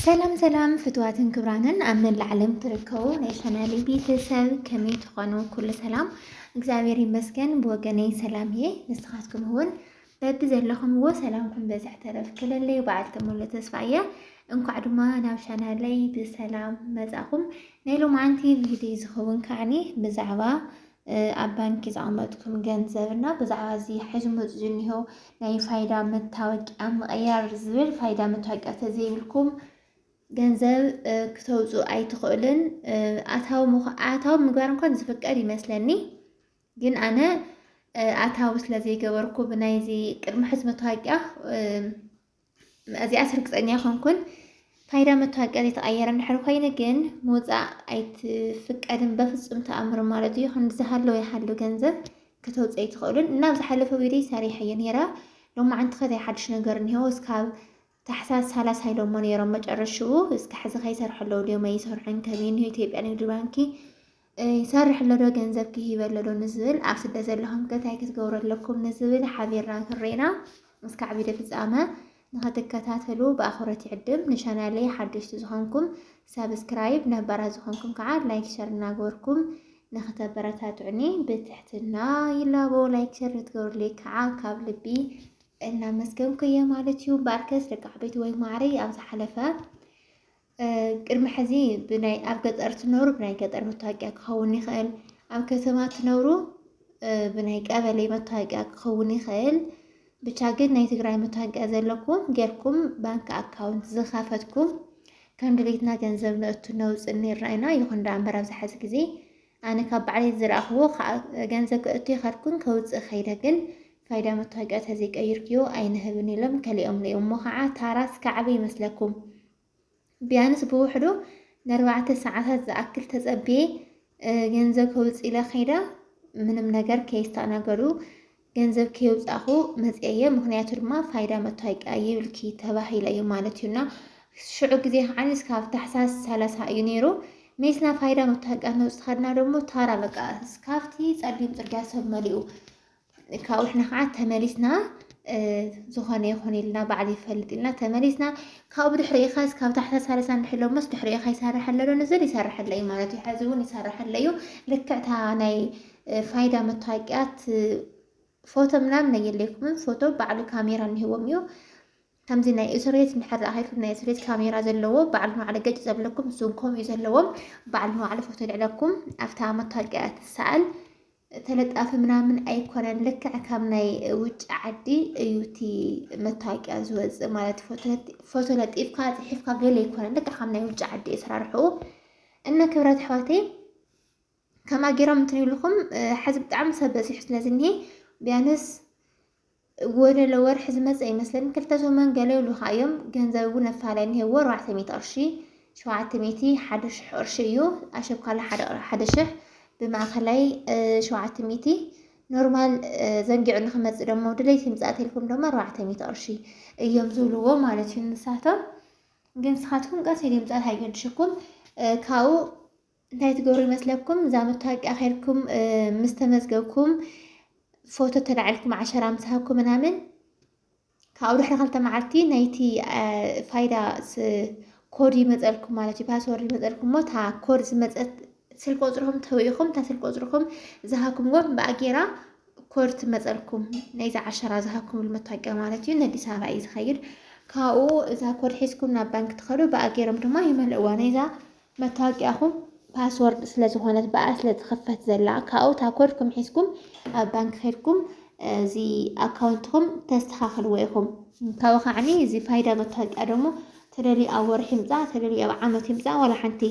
ሰላም ሰላም ፍትዋትን ክብራንን ኣብ መላእ ዓለም ትርከቡ ናይ ሰናሊ ቤተሰብ ከመይ ትኾኑ? ኩሉ ሰላም እግዚኣብሔር ይመስገን ብወገነይ ሰላም እየ። ንስኻትኩም እውን በቢ ዘለኹምዎ ሰላምኩም በዝሕ ተረፍ ክለለይ በዓልቲ ሙሉ ተስፋ እያ። እንኳዕ ድማ ናብ ቻናለይ ብሰላም መጻኹም። ናይ ሎማዓንቲ ቪድዮ ዝኸውን ከዓኒ ብዛዕባ ኣብ ባንኪ ዘቐመጥኩም ገንዘብ እና ብዛዕባ እዚ ሓይዙ መፁ ዝኒሆ ናይ ፋይዳ መታወቂያ ምቕያር ዝብል ፋይዳ መታወቂያ ተዘይብልኩም ገንዘብ ክተውፁ ኣይትኽእልን። ኣታዊ ኣታዊ ምግባር እንኳን ዝፍቀድ ይመስለኒ፣ ግን ኣነ ኣታዊ ስለ ዘይገበርኩ ብናይዚ ቅድሚ ሕዚ መታወቂያ እዚኣስ ርግፀኛ ኣይኮንኩን። ፋይዳ መታወቂያ ዘይተቐየረ እንድሕር ኮይኑ ግን ምውፃእ ኣይትፍቀድን በፍፁም ተኣምር ማለት እዩ። ክንዲ ዝሃለወ ይሃሉ ገንዘብ ከተውፅእ ኣይትኽእሉን እና ኣብ ዝሓለፈ ቪድዮ ሰሪሐ እየ ነይረ ሎሚ ዓንቲ ከታይ ሓድሽ ነገር እኒሆ እስካብ ታሕሳስ ሰላሳ ኢሎሞ ነይሮም መጨረሽኡ እስከ ሕዚ ከይሰርሐ ኣለዉ ድዮም ኣይሰርሑን ከመይ እኒሆ ኢትዮጵያ ንግድ ባንኪ ይሰርሕ ኣሎ ዶ ገንዘብ ክሂብ ኣሎ ዶ ንዝብል ኣብ ስደት ዘለኹም ከ እንታይ ክትገብሩ ኣለኩም ንዝብል ሓቢርና ክሬና እስካዕ ቪድዮ ፍጻመ ንኽትከታተሉ ብኣኽብሮት ይዕድም። ንቻናለይ ሓደሽቲ ዝኾንኩም ሳብስክራይብ፣ ነባራት ዝኾንኩም ከዓ ላይክ ሸር እናገበርኩም ንክተበረታትዑኒ ብትሕትና ይላቦ ላይክ ሸር ንትገብሩለይ ከዓ ካብ ልቢ እናመስገንኩ እየ ማለት እዩ። በኣርከስ ደቂ ዓበይቲ ወይ ማዕረይ ኣብ ዝሓለፈ ቅድሚ ሕዚ ብናይ ኣብ ገጠር ትነብሩ ብናይ ገጠር መታወቂያ ክኸውን ይኽእል፣ ኣብ ከተማ ትነብሩ ብናይ ቀበሌ መታወቂያ ክኸውን ይኽእል። ብቻ ግን ናይ ትግራይ መታወቂያ ዘለኩም ጌርኩም ባንክ ኣካውንት ዝኸፈትኩም ከም ድሌትና ገንዘብ ነእቱ ነውፅ ኔርና ኢና። ይኹን ዳ እምበር ኣብዚ ሓዚ ግዜ ኣነ ካብ ባዕለይ ዝረኣኽዎ ገንዘብ ክእቱ ይኸድኩን ከውፅእ ከይደ ግን ፋይዳ መታወቂያ ተዘይቀይርክዮ ኣይንህብን ኢሎም ከሊኦም እሞ ከዓ ታራ እስካዕበ ይመስለኩም ቢያንስ ብውሕዱ ነርባዕተ ሰዓታት ዝኣክል ተጸብየ ገንዘብ ከውጽእ ኢለ ከይደ ምንም ነገር ከየስተኣናገዱ ገንዘብ ከየውጻኹ መጽየ ምክንያቱ ድማ ፋይዳ መታወቂያ ይብልኪ ተባሂለ እዩ ማለት እዩና ሽዑ ግዜ ከዓ እስካብ ታሕሳስ ሰላሳ እዩ ነይሩ ሜስና ፋይዳ መታወቂያ ነውፅ ከድና ደግሞ ታራ በቃ እስካብቲ ጸሊም ጽርግያ ሰብ መሊኡ ካብኡ ንሕና ከዓ ተመሊስና ዝኾነ ይኹን ኢልና ባዕል ይፈልጥ ኢልና ተመሊስና ካብኡ ብድሕሪ ኢኻስ ካብ ታሕታ ሳለሳ ንሕሎሞስ ድሕሪ ኢኻ ይሰርሐለ ዶ ንዝል ይሰርሐለ እዩ ማለት እዩ ሕዚ እውን ይሰርሐለ እዩ ልክዕታ ናይ ፋይዳ መታወቂያት ፎቶ ምናምን ነየለይኩምን ፎቶ ባዕሉ ካሜራ እንሂዎም እዩ ከምዚ ናይ እሱሬት እንድሕር ረኣኺልኩም ናይ እሱሬት ካሜራ ዘለዎ በዓል ንባዕሉ ገጭ ዘብለኩም እሱን ከምኡ እዩ ዘለዎ በዓል ንባዕሉ ፎቶ ልዕለኩም ኣብታ መታወቂያ ትሰኣል ተለጣፊ ምናምን ኣይኮነን ልክዕ ካብ ናይ ውጭ ዓዲ እዩ እቲ መታወቂያ ዝወፅእ ማለት ፎቶ ለጢፍካ ፅሒፍካ ገለ ኣይኮነን ልክዕ ካብ ናይ ውጭ ዓዲ እዩ ስራርሕኡ እና ክብረት ኣሕዋተይ ከማ ጌሮም እንትን ይብልኹም ሐዚ ብጣዕሚ ሰብ በዚሑ ስለ ዝኒሀ ቢያንስ ወደለ ወርሒ ዝመፀ ይመስለኒ ክልተ ሰሙን ገለ ይብሉኻ እዮም ገንዘብ እውን ኣፋላይ እኒሀዎ ኣርባዕተ ሚእቲ ቅርሺ ሸውዓተ ሚእቲ ሓደ ሽሕ ቅርሺ እዩ ኣሸብካላ ሓደ ሽሕ ብማእኸላይ ሸውዓተ ሚእቲ ኖርማል ዘንጊዑ ንክመፅእ ደሞ ድሌት ይምፃእ ቴልኩም ደሞ ኣርባዕተ ሚእቲ ቅርሺ እዮም ዝብልዎ ማለት እዩ ንሳቶም ግን ንስኻትኩም ቀስ ኢሉ ይምፃእ ኣይገድሸኩም ካብኡ እንታይ ትገብሩ ይመስለኩም እዛ መታወቂያ ኸይድኩም ምስ ተመዝገብኩም ፎቶ ተላዒልኩም ዓሸራ ምስ ሃብኩም ምናምን ካብኡ ድሕሪ ክልተ መዓልቲ ናይቲ ፋይዳ ኮድ ይመፀልኩም ማለት እዩ ፓስወርድ ይመፀልኩም እሞ እታ ኮድ ዝመፀት ስልክ ቁፅርኹም ተውኢኹም እታ ስልክ ቁፅርኹም ዝሃብኩምዎም ብኣጌራ ኮድ ትመፀልኩም ናይዚ ዓሸራ ዝሃብኩምሉ መታወቂያ ማለት እዩ ንኣዲስ ኣበባ እዩ ዝኸይድ ካብኡ እዛ ኮድ ሒዝኩም ናብ ባንክ ትኸዱ ብኣጌሮም ድማ ይመልእዋ ናይዛ መታወቂያኹም ፓስወርድ ስለ ዝኾነት ብኣ ስለ ትኽፈት ዘላ ካብኡ እታ ኮድኩም ሒዝኩም ኣብ ባንክ ኬድኩም እዚ ኣካውንትኹም ተስተኻኽልዎ ኢኹም። ካብኡ ከዓኒ እዚ ፋይዳ መታወቂያ ደሞ ተደልዩ ኣብ ወርሒ ይምፃእ ተደልዩ ኣብ ዓመት ይምፃእ ዋላ ሓንቲ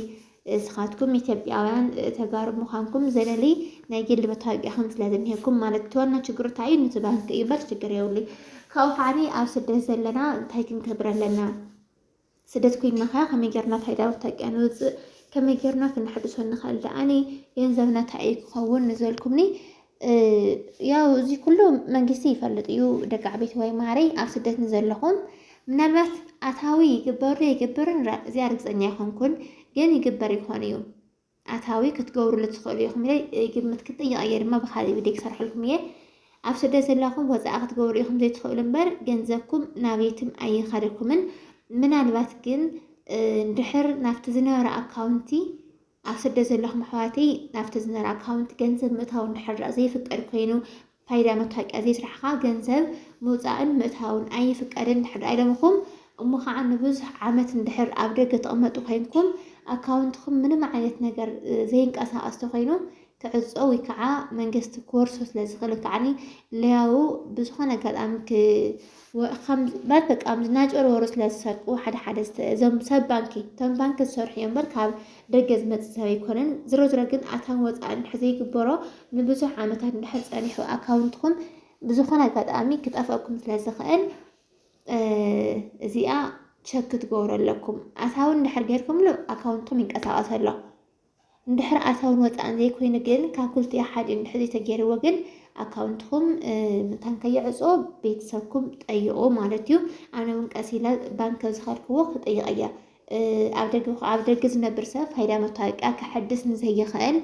እስኻትኩም ኢትዮጵያውያን ተጋሩ ምዃንኩም ዘለሊ ናይ ግሊ መታወቂያኹም ስለ ዝኒሀኩም ማለት እቲ ዋና ችግሩ እንታይ እዩ ንቲ ባንክ እዩ እምበር ችግር የብሉይ። ካብኡ ከዓኒ ኣብ ስደት ዘለና እንታይ ክንገብር ኣለና? ስደት ኮይንና ከ ከመይ ጌርና እታ ኢዳ ውታቂያ ንውጽእ ከመይ ጌርና ክንሕድሶ ንኽእል ደኣኒ ገንዘብና ታይ እዩ ክኸውን ንዘልኩምኒ ያው እዚ ኩሉ መንግስቲ ይፈልጥ እዩ ደቂ ዓበይቲ ወይ ማረይ ኣብ ስደት ንዘለኹም ምናልባት ኣታዊ ይግበሩ ይግብርን እዚኣ ርግፀኛ ኣይኮንኩን ግን ይግበር ይኾን እዩ ኣታዊ ክትገብሩሉ ትኽእሉ ኢኹም ኢለ ይግምት። ክትጥይቕ እየ ድማ ብካልእ ቪድዮ ክሰርሐልኩም እየ። ኣብ ስደት ዘላኹም ወፃኢ ክትገብሩ ኢኹም ዘይትኽእሉ እምበር ገንዘብኩም ናብይትም ኣይኸደኩምን። ምናልባት ግን ድሕር ናብቲ ዝነበረ ኣካውንቲ ኣብ ስደት ዘለኹም ኣሕዋተይ ናብቲ ዝነበረ ኣካውንቲ ገንዘብ ምእታው እንድሕር ዘይፍቀድ ኮይኑ ፋይዳ መታወቂያ ዘይስራሕኻ ገንዘብ ምውፃእን ምእታውን ኣይፍቀድን እንድሕር ኢሎምኹም እሞ ኻዓ ንብዙሕ ዓመት እንድሕር ኣብ ደገ ትቕመጡ ኮይንኩም ኣካውንትኹም ምንም ዓይነት ነገር ዘይንቀሳቐስ ተኾይኑ ክዕፆ ወይ ከዓ መንግስቲ ክወርሶ ስለዝኽእል ወይ ከዓ ለያው ብዝኾነ ኣጋጣሚ ወከምዚ በቃ ከምዚ እናጨርወሩ ስለ ዝሰርቁ ሓደ ሓደ እዞም ሰብ ባንኪ እቶም ባንኪ ዝሰርሑ እዮም እምበር ካብ ደገ ዝመፅእ ሰብ ኣይኮነን። ዝሮ ዝሮ ግን ኣታን ወፃእን እንድሕር ዘይግበሮ ንብዙሕ ዓመታት እንድሕር ፀኒሑ ኣካውንትኹም ብዝኾነ ኣጋጣሚ ክጠፍኣኩም ስለ ዝኽእል እዚኣ ቸክ ክትገብሩ ኣለኩም። ኣታዊ እንድሕር ጌርኩምሉ ኣካውንትኩም ይንቀሳቐስ ኣሎ። እንድሕር ኣታውን ወጻእን ዘይኮይኑ ግን ካብ ክልቲኡ ሓዲኡ እንድሕር ዘይተገይርዎ ግን ኣካውንትኹም መታን ከይዕጾ ቤተሰብኩም ጠይቑ ማለት እዩ። ኣነ እውን ቀስ ኢለ ባንክ ኣብ ዝኸድክዎ ክጥይቕ እየ። ኣብ ደገ ኣብ ደገ ዝነብር ሰብ ፋይዳ መታወቂያ ከሐድስ ንዘይኽእል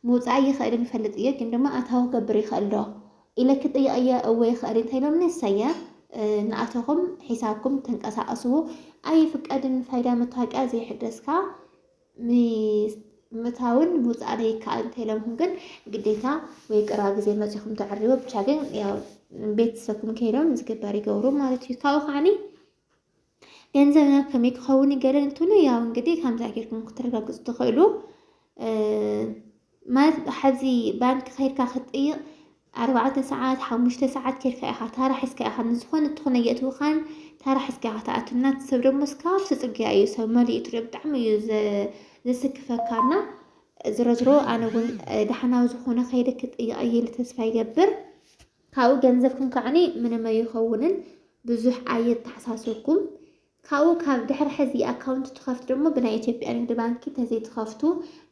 ምውጻእ ይኽእል ይፈልጥ እየ ግን ድማ ኣታዊ ክገብር ይኽእል ዶ ኢለ ክጥይቕ እየ እወ ይኽእል እንታይ ኢሎምኒ እሰየ ንኣቶኹም ሒሳብኩም ተንቀሳቐስዎ ኣይፍቀድን ፋይዳ መታወቂያ ዘይሕደስካ ምታውን ምውፃእን ይከኣል እንተይለምኩም ግን ግዴታ ወይ ቅራ ግዜ መፂኹም ተዕርዎ ብቻ ግን ያው ቤተሰብኩም ከይዶም ዝግበር ይገብሩ ማለት እዩ ካብኡ ከዓኒ ገንዘብ ናብ ከመይ ክኸውን ይገለ እንትብሉ ያው እንግዲህ ከምዛ ጌርኩም ክትረጋግፁ ትኽእሉ ማለት ሐዚ ባንኪ ከይድካ ክትጥይቅ ኣርባዕተ ሰዓት ሓሙሽተ ሰዓት ኬድካ ኢኻ ታራ ሒዝካ ኢኻ ንዝኾነ ትኾነ የእትውኻን ታራ ሒዝካ ኢኻ ትኣቱ እና እቲ ሰብ ደሞ እስካብ ስጽግያ እዩ ሰብ መሊኡ ትሪኦ ብጣዕሚ እዩ ዘስክፈካ እና ዝሮዝሮ ኣነ እውን ዳሕናዊ ዝኾነ ከይደ ክጥይቅ እየ ኢለ ተስፋ ይገብር ካብኡ ገንዘብኩም ከዓኒ ምንም ኣይኸውንን ብዙሕ ኣየተሓሳስብኩም ካብኡ ካብ ድሕሪ ሕዚ ኣካውንት ትኸፍት ደሞ ብናይ ኢትዮጵያ ንግዲ ባንኪ ተዘይትኸፍቱ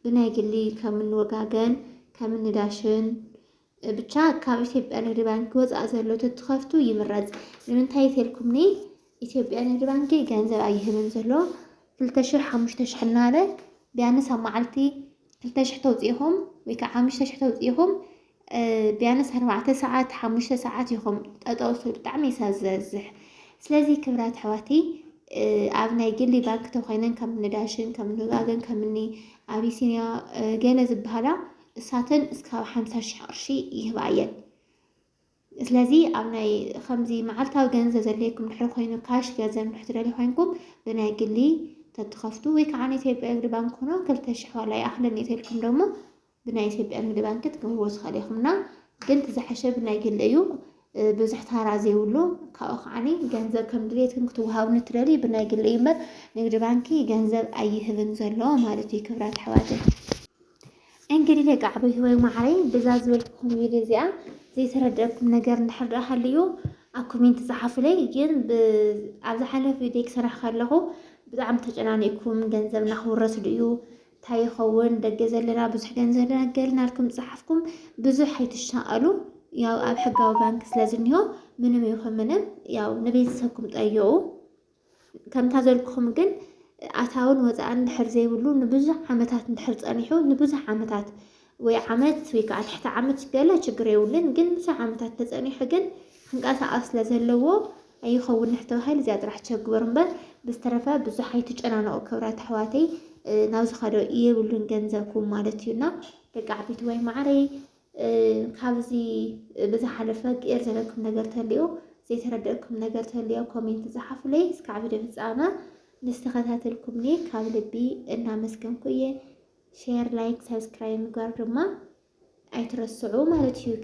ብናይ ግሊ ከምኒ ወጋገን ከምኒ ዳሽን ብቻ ካብ ኢትዮጵያ ንግዲ ባንኪ ወፃእ ዘሎ ተትኸፍቱ ይምረፅ ንምንታይ ተልኩም ኒ ኢትዮጵያ ንግዲ ባንኪ ገንዘብ ኣይህብን ዘሎ ክልተ ሽሕ ሓሙሽተ ሽሕ እናበለ ቢያንስ ኣብ መዓልቲ ክልተ ሽሕ ተውፅኢኹም ወይ ከዓ ሓሙሽተ ሽሕ ተውፅኢኹም ቢያንስ ኣርባዕተ ሰዓት ሓሙሽተ ሰዓት ይኹም ጠጠውሱ ብጣዕሚ ይሳ ዝበዝሕ ስለዚ ክብራት ኣሕዋተይ ኣብ ናይ ግሊ ባንክ ተኮይነን ከም ንዳሽን ከም ንጋገን ከም ኒ ኣቢሲንያ ገለ ዝበሃላ እሳተን እስካብ ሓምሳ ሽሕ ቅርሺ ይህባ እየን ስለዚ ኣብ ናይ ከምዚ መዓልታዊ ገንዘብ ዘድልየኩም ድሕሪ ኮይኑ ካሽ ገንዘብ እንድሕር ትደልዩ ኮይንኩም ብናይ ግሊ ተትኸፍቱ ወይ ከዓ ኢትዮጵያ ንግዲ ባንክ ሆኖ ክልተ ሽሕ ዋላ ይኣኽለኒ ተልኩም ደሞ ብናይ ኢትዮጵያ ንግዲ ባንክ ትገብርዎ ትኽእል ኢኹምና ግን ትዝሓሸ ብናይ ግሊ እዩ ብዙሕ ታራ ዘይብሉ ካብኡ ከዓኒ ገንዘብ ከም ድሌትኩም ክትወሃቡ ንትደልዩ ብናይ ግሊ እዩ እምበር ንግዲ ባንኪ ገንዘብ ኣይህብን ዘሎ ማለት እዩ ክብራት ኣሕዋተይ እንግዲህ ደቂ ዓበይቲ ወይ ማዕረይ ብዛ ዝበልኩኩም ቪድዮ እዚኣ ዘይተረድአኩም ነገር እንድሕር ደኣ ሃልዩ ኣብ ኮሜንት ፀሓፉለይ። ግን ኣብ ዝሓለፈ ቪድዮ ክሰራሕ ከለኹ ብጣዕሚ ተጨናኒእኩም ገንዘብ እናክውረስ ድዩ እንታይ ይኸውን ደገ ዘለና ብዙሕ ገንዘብ ደናገር ናልኩም ፀሓፍኩም ብዙሕ ኣይትሻቐሉ። ያው ኣብ ሕጋዊ ባንክ ስለዝኒሆ ምንም ይኹን ምንም ያው ንቤተሰብኩም ጠይቑ። ከምታ ዘልክኹም ግን ኣታውን ወፃእን ድሕር ዘይብሉ ንብዙሕ ዓመታት እንድሕር ፀኒሑ ንብዙሕ ዓመታት ወይ ዓመት ወይ ከዓ ትሕቲ ዓመት ገለ ችግር የብሉን ግን ብዙሕ ዓመታት ተፀኒሑ ግን ክንቀሳቐስ ስለ ዘለዎ ኣይኸውን ንሕተባሂል እዚኣ ጥራሕ ቸግበር እምበር ብዝተረፈ ብዙሕ ኣይትጨናነቑ ክብራት ኣሕዋተይ ናብ ዝኸዶ የብሉን ገንዘብኩም ማለት እዩና ደቂ ዓበይቲ ወይ ማዕረይ ካብዚ ብዝሓለፈ ቄር ዘለኩም ነገር ተልዮ ዘይተረደእኩም ነገር ተልዮ ኮሜንት ዝሓፉለይ እስካዕ ቪድዮ ፍጻመ ምስ ተኸታተልኩምኒ ካብ ልቢ እናመስገንኩ እየ ሼር ላይክ ሰብስክራይብ ምግባር ድማ ኣይትረስዑ ማለት እዩ